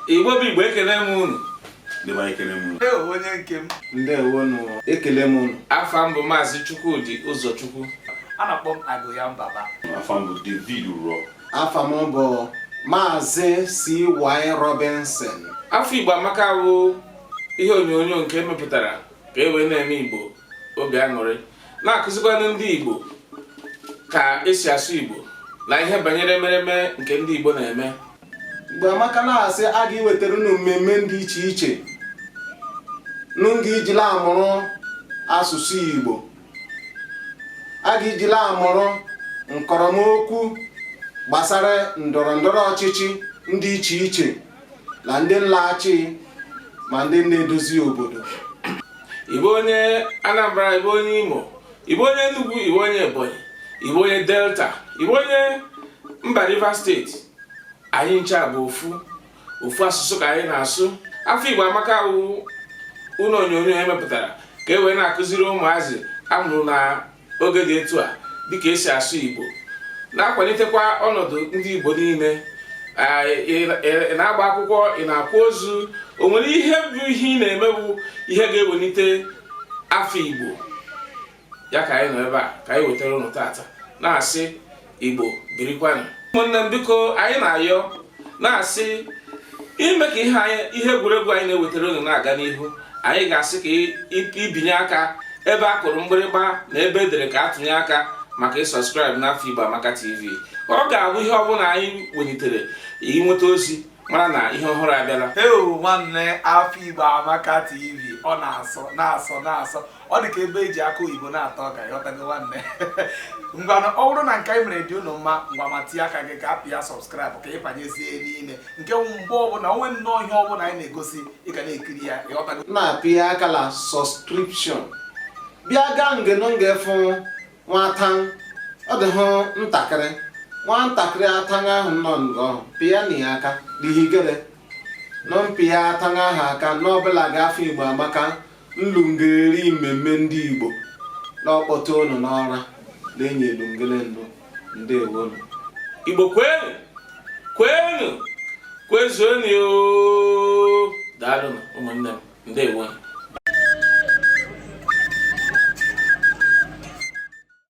igbo bụ igbo ekele m unu dịba ekele m unu Ewo onye nke m ndewo nụ ekele m unu afa m bụ maazị chukwudi ụzọchukwu a na-akpọ m agụ ya mbaba afa m bụ david uro afa m bụ maazị cy robinson afọ igbo amaka wụ ihe onyonyo nke e mepụtara ka e wee na-eme igbo obi aṅụrị na-akụzikwanụ ndị Igbo ka esi asụ Igbo na ihe banyere emereme nke ndị Igbo na-eme Igbo amaka na-asị a ga-ewetara unu mmemme dị iche iche n'nga i ji la-amụrụ asụsụ Igbo a ga-eji la-amụrụ nkọrọmokwu gbasara ndọrọ ndọrọ ọchịchị ndị iche iche na ndị la-achị ma ndị na-edozi obodo ị bụ onye Anambra ị bụ onye Imo ị bụ onye Enugu ị bụ onye Ebonyi ị bụ onye Delta ị bụ onye mba Rivers State anyị ncha bụ ofu ofu asụsụ ka anyị na-asụ afọ Igbo amaka wụ ụlọ onyonyo e mepụtara ka e wee na-akụziri ụmụazị a mụrụ na oge dị etu a dịka esi asụ Igbo na-akwalitekwa ọnọdụ ndị Igbo niile ị na-agba akwụkwọ ị na-akwa ozu o nwere ihe bụ ihe ị na-eme bụ ihe ga-ewelite afọ Igbo ya ka anyị nọ ebe a ka anyị wetara ụnụ tata na-asị Igbo birikwanụ ụmụnne m biko anyị na-ayọ na-asị ime ka ihe ihe egwuregwu anyị na-ewetara unu na-aga n'ihu anyị ga-asị ka i binye aka ebe a kụrụ mgbịrịgba na ebe e dere ka a tụnye aka maka ị subscribe n'afọ Igbo Amaka TV ọ ga-abụ ihe ọbụla anyị welitere i nweta ozi mara na ihe ọhụrụ abịala ewo nwanne afọ Igbo Amaka TV ọ na-asọ na-asọ na-asọ ọ dị ka ebe e ji akụ oyibo na-ata ọka ị ghọtago nwanne ngwanụ ọ bụrụ na nke anyị mere dị unu mma ngwa ma tinye aka gị ka a pịa subscribe ka ị banyezie n'ime nke wụ mgbe ọbụla o nwe nnọọ ihe ọbụla anyị na-egosi ị ga na-ekiri ya ị ghọtago na-apịa aka la subscription bịa gaa nge nọ nge fụ nwata ọ dị hụ ntakịrị nwantakịrị atanga ahụ nọ ngọ pịa na ya aka dihigere nọ mpịa atanga ahụ aka n'ọbụla ga afọ igbo amaka nlungeri mmemme ndị Igbo na-akpọta ụnụ n'ọra na-enye elungere ndụ ndewonu Igbo kwenu kwenu kwezuenu daalụnụ ụmụnne m ndewonu